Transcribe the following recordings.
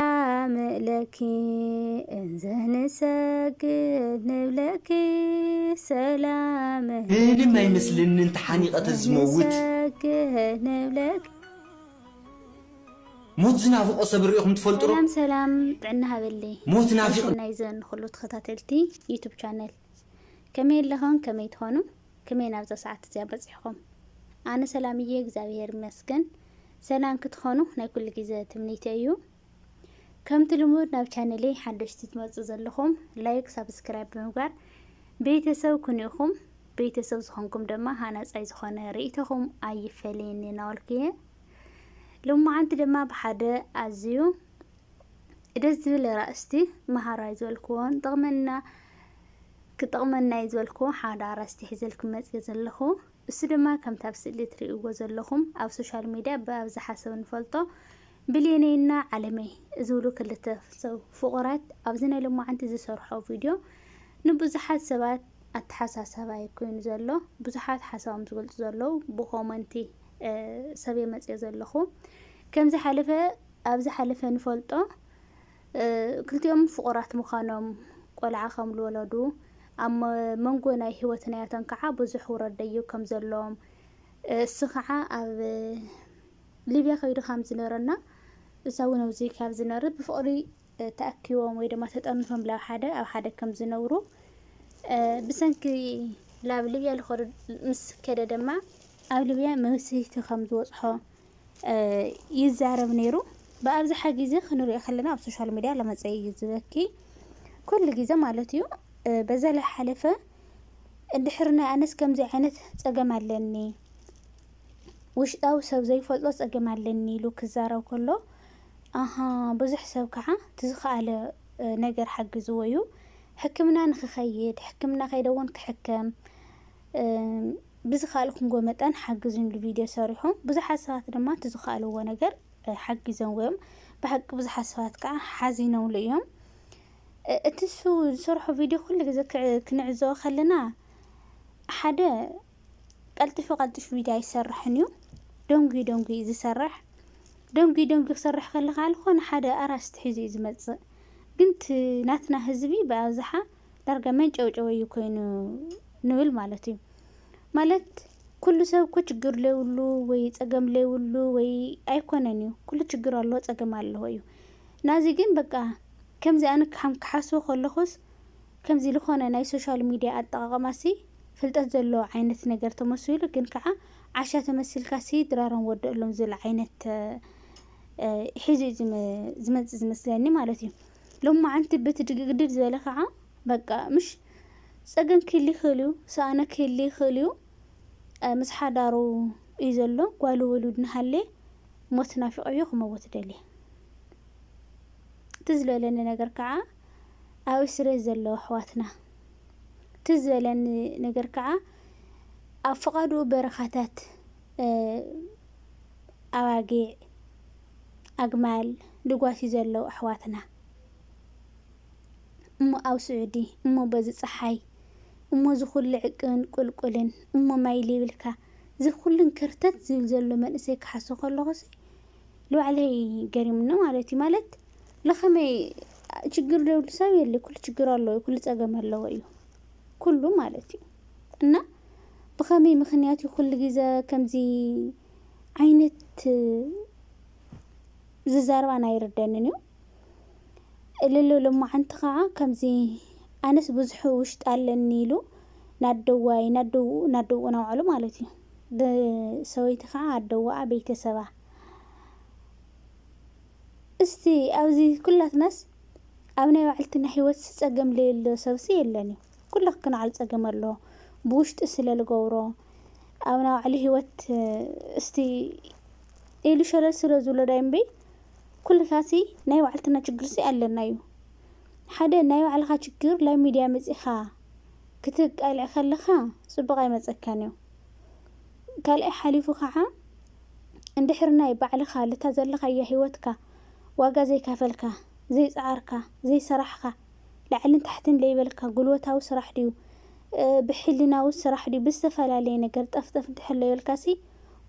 ኣምለኪ እንዘንሰግድ ንብለኪ ሰላመ ብህልም ኣይመስለንን ተሓኒቐ ተዝመውት። እንሰግድ ንብለኪ ሞት ዝናፍቆ ሰብ ሪኢኹም ትፈልጡ ዶ? ሰላም ሰላም ጥዕና ሃበለይ ሞት ናይ ናፊቅ ሰናይ ዘን ኹሉ ተኸታተልቲ ዩቱብ ቻነል ከመይ ኣለኹም ከመይ ትኾኑ ከመይ ናብዛ ሰዓት እዚኣ በጺሕኹም? ኣነ ሰላም እየ እግዚኣብሄር ይመስገን። ሰላም ክትኾኑ ናይ ኩሉ ግዜ ትምኒተይ እዩ። ከምቲ ልሙድ ናብ ቻነለይ ሓደሽቲ ትመጹ ዘለኹም ላይክ፣ ሳብስክራይብ ብምግባር ቤተሰብ ኩኑ ኢኹም። ቤተሰብ ዝኾንኩም ድማ ሃናጻይ ዝኾነ ርእይቶኹም ኣይፈለየኒ እናበልኩ እየ ሎማዓንቲ ድማ ብሓደ ኣዝዩ ደስ ዝብል ራእስቲ መሃራይ ዝበልክዎን ጥቕመና ክጠቕመና እዩ ዝበልክዎ ሓደ ኣርእስቲ ሒዘልኩም መጺኤ ዘለኹ። እሱ ድማ ከምቲ ኣብ ስእሊ ትርእይዎ ዘለኹም ኣብ ሶሻል ሚድያ ብኣብዝሓ ሰብ እንፈልጦ ብሌነይና ዓለመይ ዝብሉ ክልተ ሰብ ፍቑራት ኣብዚ ናይ ሎማዓንቲ ዝሰርሖ ቪድዮ ንብዙሓት ሰባት ኣተሓሳሳቢ እዩ ኮይኑ ዘሎ። ብዙሓት ሓሳቦም ዝገልጹ ዘለዉ ብኮመንቲ ሰብየ መጺኤ ዘለኹ። ከም ዝሓለፈ ኣብ ዝሓለፈ ንፈልጦ ክልቲኦም ፍቑራት ምዃኖም፣ ቈልዓ ከም ልወለዱ፣ ኣብ መንጎ ናይ ህይወት ናያቶም ከኣ ብዙሕ ውረድ ደይብ ከም ዘሎዎም፣ እሱ ከኣ ኣብ ሊብያ ከይዱ ከም ዝነረና እሳ እውን ኣብዚ ካብ ዝነርት ብፍቕሪ ተኣኪቦም ወይ ድማ ተጠርኒፎም ላብ ሓደ ኣብ ሓደ ከም ዝነብሩ ብሰንኪ ላብ ሊብያ ልኸዱ ምስ ከደ ድማ ኣብ ሊብያ መብስህቲ ከም ዝበጽሖ ይዛረብ ነይሩ። ብኣብዝሓ ግዜ ክንሪኦ ከለና ኣብ ሶሻል ሚድያ ለመፀ እዩ ዝበኪ ኩሉ ግዜ ማለት እዩ። በዛ ለሓለፈ እንድሕር ናይ ኣነስ ከምዚ ዓይነት ፀገም ኣለኒ ውሽጣዊ ሰብ ዘይፈልጦ ፀገም ኣለኒ ኢሉ ክዛረብ ከሎ ኣሃ ብዙሕ ሰብ ከዓ ትዝኸኣለ ነገር ሓግዝዎ እዩ። ሕክምና ንክኸይድ ሕክምና ከይደ እውን ክሕከም ብዝካልኩምዎ መጠን ሓግዙኒ ኢሉ ቪድዮ ሰሪሑ ብዙሓት ሰባት ድማ እቲ ዝካኣልዎ ነገር ሓጊዞምዎ እዮም ብሓቂ ብዙሓት ሰባት ከዓ ሓዚኖምሉ እዮም እቲ ንሱ ዝሰርሖ ቪድዮ ኩሉ ግዜ ክንዕዘቦ ከለና ሓደ ቀልጢፉ ቀልጢፉ ቪድዮ ኣይሰርሕን እዩ ደንጉዩ ደንጉዩ እዩ ዝሰርሕ ደንጉዩ ደንጉዩ ክሰርሕ ከሎ ከዓ ዝኾነ ሓደ ኣራስቲ ሒዙ እዩ ዝመፅእ ግን እቲ ናትና ህዝቢ ብኣብዝሓ ዳርጋ መንጨውጨዊ እዩ ኮይኑ ንብል ማለት እዩ። ማለት ኩሉ ሰብ እኮ ችግር ለይብሉ ወይ ጸገም ለይብሉ ወይ ኣይኮነን እዩ። ኩሉ ችግር ኣለዎ ጸገም ኣለዎ እዩ። ናዚ ግን በቃ ከምዚ ኣነ ከም ክሓስቦ ከለኹስ ከምዚ ዝኾነ ናይ ሶሻል ሚድያ ኣጠቓቕማሲ ፍልጠት ዘለዎ ዓይነት ነገር ተመሲሉ ግን ከዓ ዓሻ ተመሲልካሲ ድራሮም ወደእሎም ዝብል ዓይነት ሒዙ እዩ ዝመጽእ ዝመስለኒ ማለት እዩ። ሎማዓንቲ በቲ ድግድግ ዝበለ ካዓ በቃ ምሽ ፀገም ክህሊ ይክእል እዩ ሰኣነ ክህሊ ይክእል እዩ ምስ ሓዳሩ እዩ ዘሎ ጓሉ ውሉድ ናሃሌ ሞት ናፊቆዮ ክመውት ደልየ ትዝ ዝበለኒ ነገር ካዓ ኣብ እስርቤት ዘለዉ ኣሕዋትና ትዝ ዝበለኒ ነገር ካዓ ኣብ ፍቃድኡ በረካታት ኣባጊዕ ኣግማል ድጓሲ ዘለው ኣሕዋትና እሞ ኣብ ስዑዲ እሞ በዚ ጸሓይ እሞ እዚ ኩሉ ዕቅብን ቁልቁልን እሞ ማይ ልይብልካ እዚ ኩሉን ከርተት ዝብል ዘሎ መንእሰይ ክሓሶ ከለኹሲ ንባዕለይ ገሪምኒ ማለት እዩ ማለት ለኸመይ ችግር ደብሉ ሰብ የለ ኩሉ ችግር ኣለዎ ኩሉ ጸገም ኣለዎ እዩ ኩሉ ማለት እዩ እና ብኸመይ ምክንያት እዩ ኩሉ ግዜ ከምዚ ዓይነት ዝዛረባን ኣይርደንን እዩ እልሉ ልማዓንቲ ከዓ ከምዚ ኣነስ ብዙሕ ውሽጢ ኣለኒ ኢሉ ናደዋይ ናደው ናደው ናውዓሉ ማለት እዩ ብሰበይቲ ከዓ ኣደዋኣ ቤተሰባ እስቲ ኣብዚ ኩላትናስ ኣብ ናይ ባዕልትና ህይወት ፀገም ለየሎ ሰብሲ የለን እዩ ኩሉ ክናዓል ጸገም ኣሎ ብውሽጢ ስለ ልገብሮ ኣብ ናባዕሉ ሂወት እስቲ ኢሉ ሸለል ስለ ዝብሎ ዳይ እምበይ ኩልታሲ ናይ ባዕልትና ችግርሲ ኣለና እዩ ሓደ ናይ ባዕልኻ ችግር ላብ ሚድያ መጺኻ ክትቃልዕ ከለኻ ጽቡቕ ኣይመጸካን እዩ ካልኣይ ሓሊፉ ከዓ እንድሕር ናይ ባዕልኻ ልታ ዘለኻያ ሂወትካ ዋጋ ዘይካፈልካ ዘይጸዓርካ ዘይሰራሕኻ ላዕልን ታሕትን ለይበልካ ጉልበታዊ ስራሕ ድዩ ብሕልናዊ ስራሕ ድዩ ብዝተፈላለየ ነገር ጠፍጠፍ እንድሕር ለይበልካሲ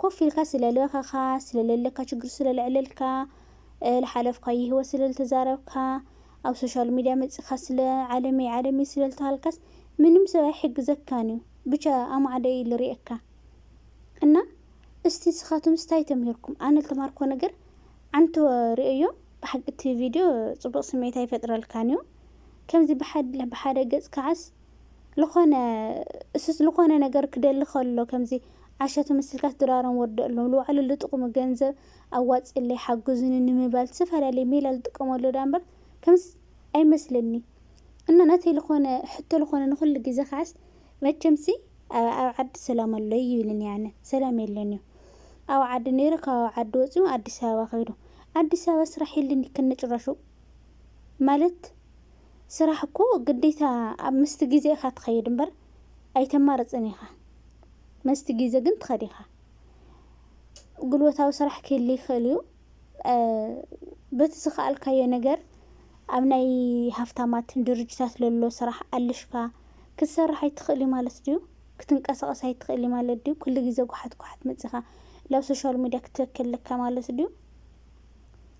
ኮፍ ኢልካ ስለለኸኻ ስለለለካ ችግር ስለለዕለልካ ልሓለፍካዮ ህይወት ስለልተዛረብካ ኣብ ሶሻል ሚድያ መጺኻ ስለ ዓለመይ ዓለመይ ስለልተሃልካስ ምንም ሰብ ኣይሕግዘካን እዩ ብቻ ኣማዕደ እዩ ልሪኤካ እና እስቲ ንስኻትምስ እንታይ ተምሂርኩም ኣነ ልተማርኮ ነገር ዓንተ ሪኦዮ ብሓቂ እቲ ቪድዮ ጽቡቕ ስምዒት ኣይፈጥረልካን እዩ። ከምዚ ብሓደ ብሓደ ገጽ ከዓስ ልኾነ እሱስ ልኾነ ነገር ክደሊ ከሎ ከምዚ ዓሻ ተመሲልካስ ድራሮም ወደኣሎም ልባዕሉ ልጥቕሙ ገንዘብ ኣዋጽእለይ ሓግዙኒ ንምባል ዝተፈላለየ ሜላ ልጥቀመሉ ድኣ እምበር ከምዚ ኣይመስለኒ እና ናተይ ልኾነ ሕቶ ልኾነ ንኹሉ ግዜ ከዓስ መቸምሲ ኣብ ዓዲ ሰላም ኣሎ ኣይብልን እየ ኣነ። ሰላም የለን እዩ። ኣብ ዓዲ ነይሩ ካብ ኣብ ዓዲ ወጺኡ ኣዲስ ኣበባ ከይዱ። ኣዲስ ኣበባ ስራሕ የለን እዩ ከነጭራሹ። ማለት ስራሕ እኮ ግዴታ ኣብ ምስቲ ግዜ ኢኻ ትኸይድ እምበር ኣይተማርጽን ኢኻ። መስቲ ግዜ ግን ትኸድ ኢኻ። ጉልበታዊ ስራሕ ክህሊ ይኽእል እዩ። በቲ ዝኸኣልካዮ ነገር ኣብ ናይ ሃፍታማት ድርጅታት ለሎ ስራሕ ኣልሽካ ክትሰርሕ ኣይትኽእል እዩ ማለት ድዩ? ክትንቀሳቐስ ኣይትኽእል እዩ ማለት ድዩ? ኩሉ ግዜ ጓሓት ጓሓት መጺኻ ላብ ሶሻል ሚድያ ክትበኪ ኣለካ ማለት ድዩ?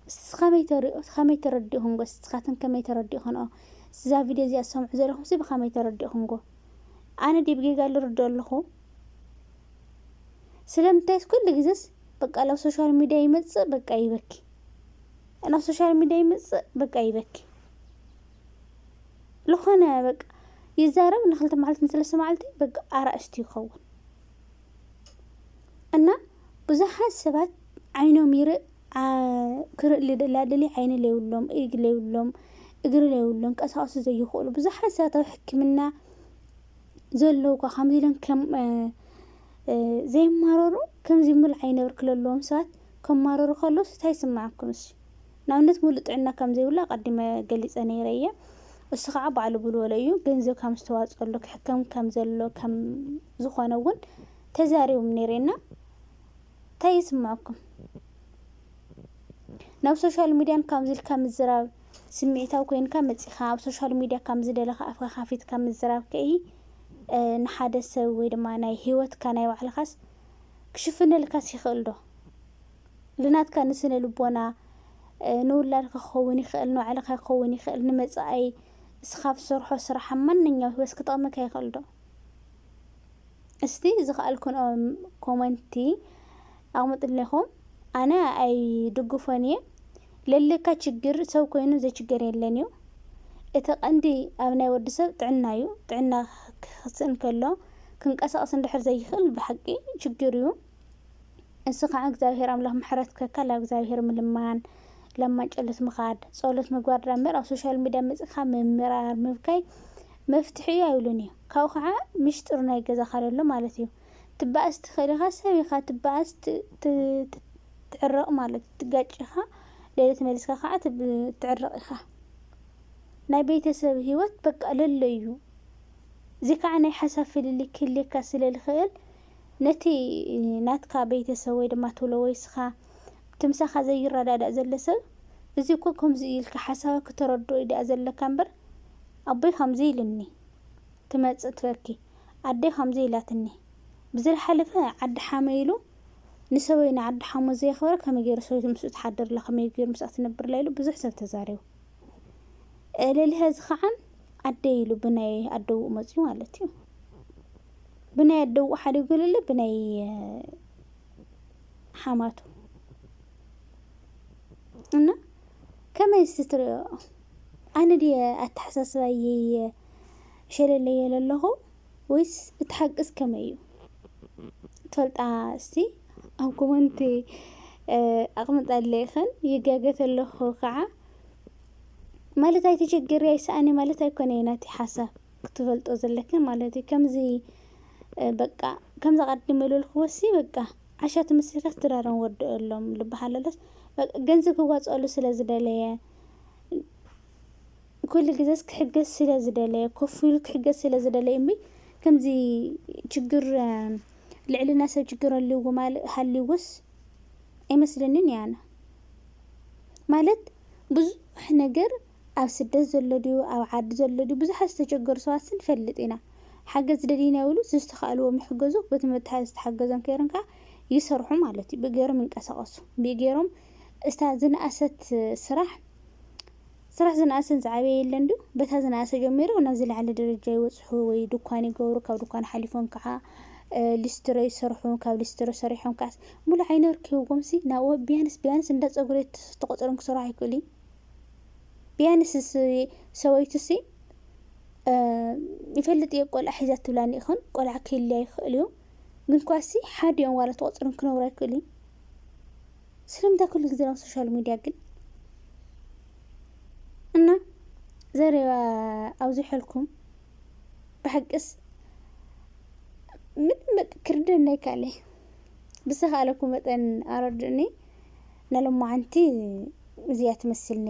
እስቲ ከመይ ተሪኦ ከመይ ተረዲእኹምጎ ንስኻትን ከመይ ተረዲእኽንኦ እዛ ቪድዮ እዚኣ ትሰምዑ ዘለኹምሲ ብኸመይ ተረዲእኹምጎ ኣነ ድየ ብጌጋ ልርድኦ ኣለኹ? ስለምንታይስ ኩሉ ግዘስ በቃ ላብ ሶሻል ሚድያ ይመፅእ በቃ ይበኪ ናብ ሶሻል ሚድያ ይመፅእ በቃ ይበኪ ዝኾነ በቃ ይዛረብ ንክልተ መዓልቲ ንሰለስተ መዓልቲ በቃ ኣራእስቲ ይኸውን እና ብዙሓት ሰባት ዓይኖም ይርእ ዓ- ክርኢ ልደላድሊ ዓይኒ ለይብሎም ኢግ ለይብሎም እግሪ ለይብሎም ቀሳቅሱ ዘይኽእሉ ብዙሓት ሰባት ኣብ ሕክምና ዘለውኳ ከምዚ ኢለን ከም ዘይማረሩ ከምዚ ምል ዓይነብር ክለለዎም ሰባት ከማረሩ ከለዉ ስታይ ስምዓኩም እሲ ንኣብነት ሙሉ ጥዕና ከም ዘይብላ ቀዲመ ገሊጸ ነይረ እየ እሱ ከዓ ባዕሉ ብልበሎ እዩ ገንዘብ ከም ዝተዋጸሉ ክሕከም ከም ዘሎ ከም ዝኾነ እውን ተዛሪቦም ነይረና እንታይ ይስምዐኩም? ናብ ሶሻል ሚድያ ካብዚ ኢልካ ምዝራብ ስምዒታዊ ኮይንካ መፂኻ ኣብ ሶሻል ሚድያ ካብ ዝደለኻ ኣፍካ ካፊትካ ምዝራብ ከይ ንሓደ ሰብ ወይ ድማ ናይ ሂወትካ ናይ ባዕልኻስ ክሽፍነልካስ ይኽእል ዶ? ልናትካ ንስነ ልቦና ንውላድካ ክኸውን ይኽእል፣ ንባዕልካ ክኸውን ይኽእል፣ ንመፃኢ እስኻ ትሰርሖ ስራሕ ማንኛው ህይወትስ ክጠቕመካ ይኽእል ዶ? እስቲ ዝከኣልኩንኦ ኮመንቲ ኣቅምጥልና ኢኩም ኣነ ኣይድግፎን እየ ለለካ ችግር ሰብ ኮይኑ ዘይችገር የለን እዩ እቲ ቀንዲ ኣብ ናይ ወዲ ሰብ ጥዕና እዩ ጥዕና ክክስእን ከሎ ክንቀሳቀስ እንድሕር ዘይክእል ብሓቂ ችግር እዩ እሱ ከዓ እግዚኣብሔር ኣምላክ ምሕረት ከካ ላብ እግዚኣብሔር ምልማን ለማን ጨሎት ምካድ ጸሎት ምግባር ድኣ እምበር ኣብ ሶሻል ሚድያ መጺካ ምምራር ምብካይ መፍትሒ እዩ ኣይብሉን እዩ ካብኡ ካዓ ምሽጥር ናይ ገዛካ ለሎ ማለት እዩ ትባኣስ ትክእል ኢካ ሰብ ኢካ ትባኣስ ትዕረቅ ማለት እዩ ትጋጭ ኢካ ለለ ተመሊስካ ካዓ ትዕረቅ ኢካ ናይ ቤተሰብ ሂወት በቃ ለሎ እዩ እዚ ካዓ ናይ ሓሳብ ፍልልይ ክህልየካ ስለ ልክእል ነቲ ናትካ ቤተሰብ ወይ ድማ ትብሎ ወይ እስካ እቲ ምሳካ ዘይራዳዳእ ዘሎ ሰብ እዚ እኮ ከምዚ እዩ ኢልካ ሓሳብ ክተረድኦ እዩ ዳኣ ዘለካ እምበር ኣቦይ ከምዚ ኢሉኒ ክመጽእ ትበኪ ኣደይ ከምዚ ኢላትኒ ብዝልሓለፈ ዓዲ ሓመይ ኢሉ ንሰበይ ንዓዲ ሓሙ ዘየኽበረ ከመይ ገይሩ ሰበይቱ ምስኡ ትሓድርላ ከመይ ገይሩ ምስኣ ትነብርላ ኢሉ ብዙሕ ሰብ ተዛሪቡ እልልሀ እዚ ከዓን ኣደይ ኢሉ ብናይ ኣደውኡ መፅዩ ማለት እዩ ብናይ ኣደውኡ ሓዲጉ ልለ ብናይ ሓማቱ እና ከመይ ስትሪኦ ኣነ ድየ ኣተሓሳስባይይ ሸለለዮ ለለኹ ወይስ እቲ ሓቅስ ከመይ እዩ ትፈልጣ እስቲ ኣብ ኮመንቲ ኣቕምጣለይኽን ይጋገ ተለኹ ከዓ ማለት ኣይተሸግሪ ኣይሰኣኒ ማለት ኣይኮነ እዩ ናተይ ሓሳብ ክትፈልጦ ዘለክን ማለት እዩ ከምዚ በቃ ከምዚ ኣቐድም ኢሉልኩ ወሲ በቃ ዓሻ ትምስልካስ ድራሮም ወድኦሎም ልበሃለሎስ ገንዘብ ክዋፅኦሉ ስለ ዝደለየ ኩሉ ግዘስ ክሕገዝ ስለ ዝደለየ ኮፍ ኢሉ ክሕገዝ ስለ ዝደለየ እምበይ ከምዚ ችግር ልዕልና ሰብ ችግር ኣለዎ ማለት ሃልዩዎስ ኣይመስለንን እየ ኣነ። ማለት ብዙሕ ነገር ኣብ ስደት ዘሎ ድዩ ኣብ ዓዲ ዘሎ ድዩ ብዙሓት ዝተቸገሩ ሰባትሲ ንፈልጥ ኢና። ሓገዝ ደልዩ ኢና ይብሉ ዝዝተኻእልዎም ይሕገዙ በቲ መተሓዝ ዝተሓገዞም ከይሮም ከዓ ይሰርሑ ማለት እዩ። ብእግሮም ይንቀሳቐሱ ብእግሮም እታ ዝነኣሰት ስራሕ ስራሕ ዝነኣሰን ዝዓበየ የለን ድዩ? በታ ዝነኣሰ ጀሚሮም ናብ ዝለዓለ ደረጃ ይበጽሑ ወይ ድኳን ይገብሩ፣ ካብ ድኳን ሓሊፎም ከዓ ሊስትሮ ይሰርሑ፣ ካብ ሊስትሮ ሰሪሖም ከዓስ ሙሉእ ዓይኒ ወርቂ ሂቦምሲ ናብኡ ቢያንስ ቢያንስ እንዳ ፀጉሪ ቤት ተቖፂሮም ክሰርሑ ኣይክእሉ እዩ? ቢያንስ ሰበይቱሲ ይፈልጥ እየ ቆልዓ ሒዛ ትብላኒ ይኹን ቆልዓ ክህልያ ይኽእል እዩ ግን ኳሲ ሓዲኦም ዋላ ተቖፂሮም ክነብሩ ኣይክእሉ እዩ? ስለምንታይ ኩሉ ግዜ ናብ ሶሻል ሚድያ ግን እና ዘረባ ኣብዚሐልኩም ብሓቅስ ምንም በቃ ክርደና ይካለይ ብዝተኻእለኩ መጠን ኣረድእኒ ንሎማዓንቲ እዚኣ ትመስል ነይራ።